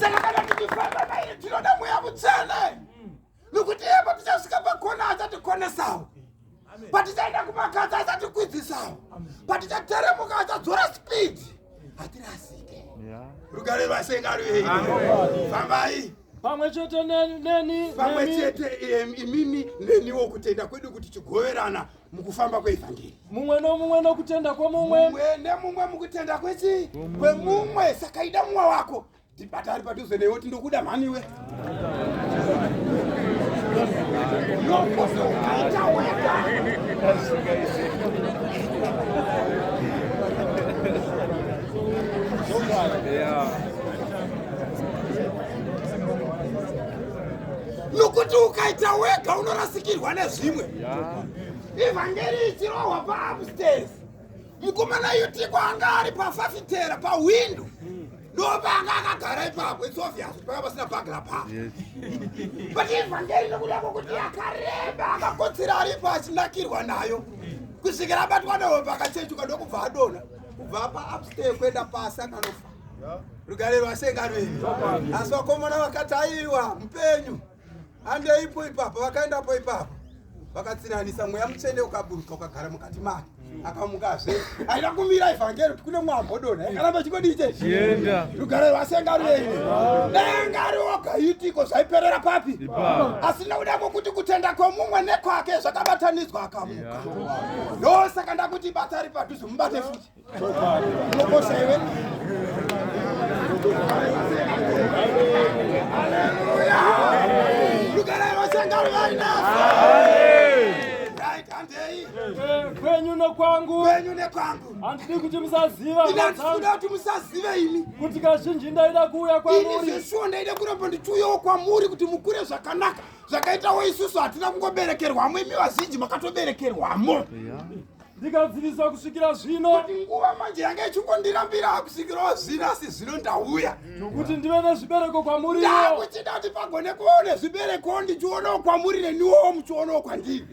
saka kana tichifamba naye tinoda mweya mutsvene nokuti iye patichisvika pakona achatikonesawo patichaenda kumakadzi achatikwidzisawo patichateremuka achadzora speed hatirasike rugare rwasengarwei fambai pamwe chete neni pamwe chete imimi neniwo kutenda kwedu kuti chigoverana mukufamba kweevhangeri mumwe nomumwe nokutenda kwomumwe nemumwe mukutenda kwechi kwemumwe saka ida mumwe wako tibata ari padhuze newe kuti ndokuda mhaniwe nokuzokaita wega nokuti ukaita wega unorasikirwa nezvimwe ivhangeri ichirohwa paupstairs mukomana yutiko anga ari pafafitera pahwindo ndopanga akagara ipapo its obvious panga pasina bagla pa but ivhangeri nokuda kwokuti akareba akakotsira aripo achinakirwa nayo kusvikira abatwa nehope akachechuka ndokubva adona kubva paupstair kuenda pasi akanofa rugare rwasengano iri asi vakomana vakataiwa mupenyu andeipo ipapo vakaendapo ipapo vakatsinanisa mweya mutsvene ukaburuka ukagara mukati make akamukazve aida kumira ivhangeri kuti kune mwambodona yakaramba chikodii chezvienda rugare rwasenga rwene denga rioga itiko zvaiperera papi asi nokuda kwokuti kutenda kwomumwe nekwake zvakabatanidzwa akamuka ndosaka ndakuti bata ari padhuze mubate futi kwangu kwenyu nekwangu handidi kuti musaziva ndinoda kuti musazive imi kuti kazhinji ndaida kuuya kwamuri zveshuwa ndaida kuramba ndichiuyawo kwamuri kuti mukure zvakanaka zvakaitawo isusu hatina kungoberekerwamo imi vazhinji makatoberekerwamo ndikadzivisa kusvikira zvino kuti nguva manje yanga ichingondirambira kusvikirawo zvino asi zvino ndauya nokuti ndive nezvibereko kwamuri ndakuchida kuti pagone kuvawo nezvibereko ndichionawo kwamuri neniwowo muchionawo kwandiri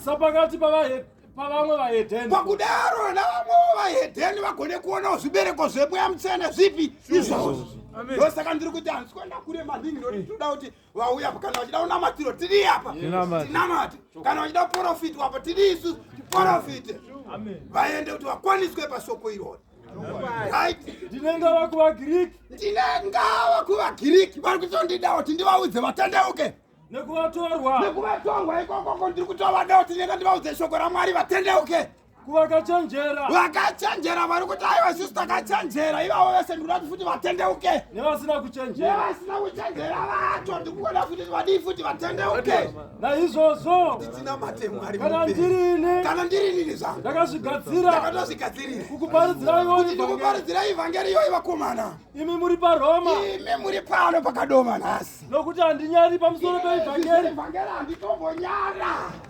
sapakati pavahep pavamwe vahedheni pakudaro navamwewo vahedheni vagone kuonawo zvibereko zvemweya mutsvene zvipi izvozvo ndosaka ndiri kuti hanzwa ndakurema ndini ndoti toda kuti vauya apa kana vachida unamatiro tiri apa tinamate kana vachida kuprofiti wapa tiri isu tiprofite vaende kuti vakwaniswe pasoko irori ndinengava kuvagiriki ndinengava kuvagiriki vari kutondidawo kuti ndivaudze vatendeuke nekuvatorwa nekuvatorwa ikokoko ndiri kutovadawo tinenga ndivaudze shoko ramwari vatendeuke kuvakachenjera vakachenjera vari kuti aiwa sisi takachenjera ivavo vese ndikuda kuti futi vatendeuke nevasina kuchenjera nevasina kuchenjera vacho ndikuona futi vadii futi vatendeuke naizvozvo ndichinamate mwari kana ndirini kana ndirinini zvangu ndakazvigadzira ndakatozvigadzirira kukuparidzirai kuti ndikuparidzirai ivhangeri iyoyi vakomana imi muri paroma imi muri pano pakadoma nhasi nokuti handinyari pamusoro peivhangeri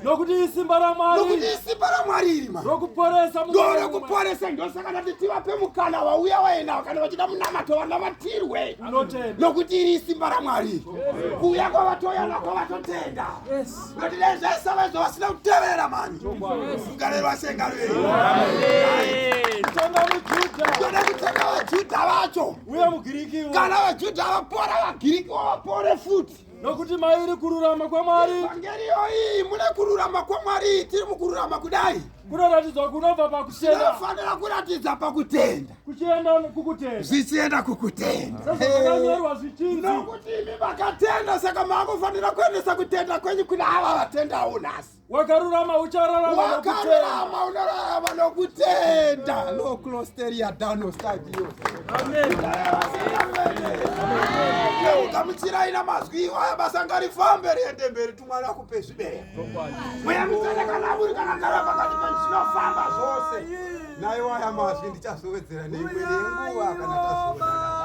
nokuti isimba ramwari iri rokuporesa rokuporesa ndosaka ndati tivape mukana vauya waenavo kana vachida munamato vanamatirwe nokuti iri isimba ramwari kuuya kwavatoya nako vatotenda noti nezvese vaizvo vasina kuteverera mani kugarerwa sengarei toda kutenda vajuda vacho uye mugirikiwo kana vajudha vapora vagirikiwo vapore futi nokuti mairi kururama kwamwari vhangeri yoiyi mune kururama kwamwari tiri mukururama kudai kunoratidzwa kunobva pakutenda tinofanira kuratidza pakutenda kuchienda kukutenda zvichienda kukutenda sezvakanyorwa zvichinzi nokuti imi makatenda saka maakufanira kuendesa kutenda kwenyu kuna ava vatendawo nhasi wakarurama uchararama wakarurama unorarama nokutenda loclosteria dano stadio ugamuchirai namazwi iwaya basa ngarifambe riende mberi tumwana kupe zvibereko mweya mutende kana muri kana gara pakati penyu zvinofamba zvose naye waya mazwi ndichazowedzera neimwe nenguva kana tazoaa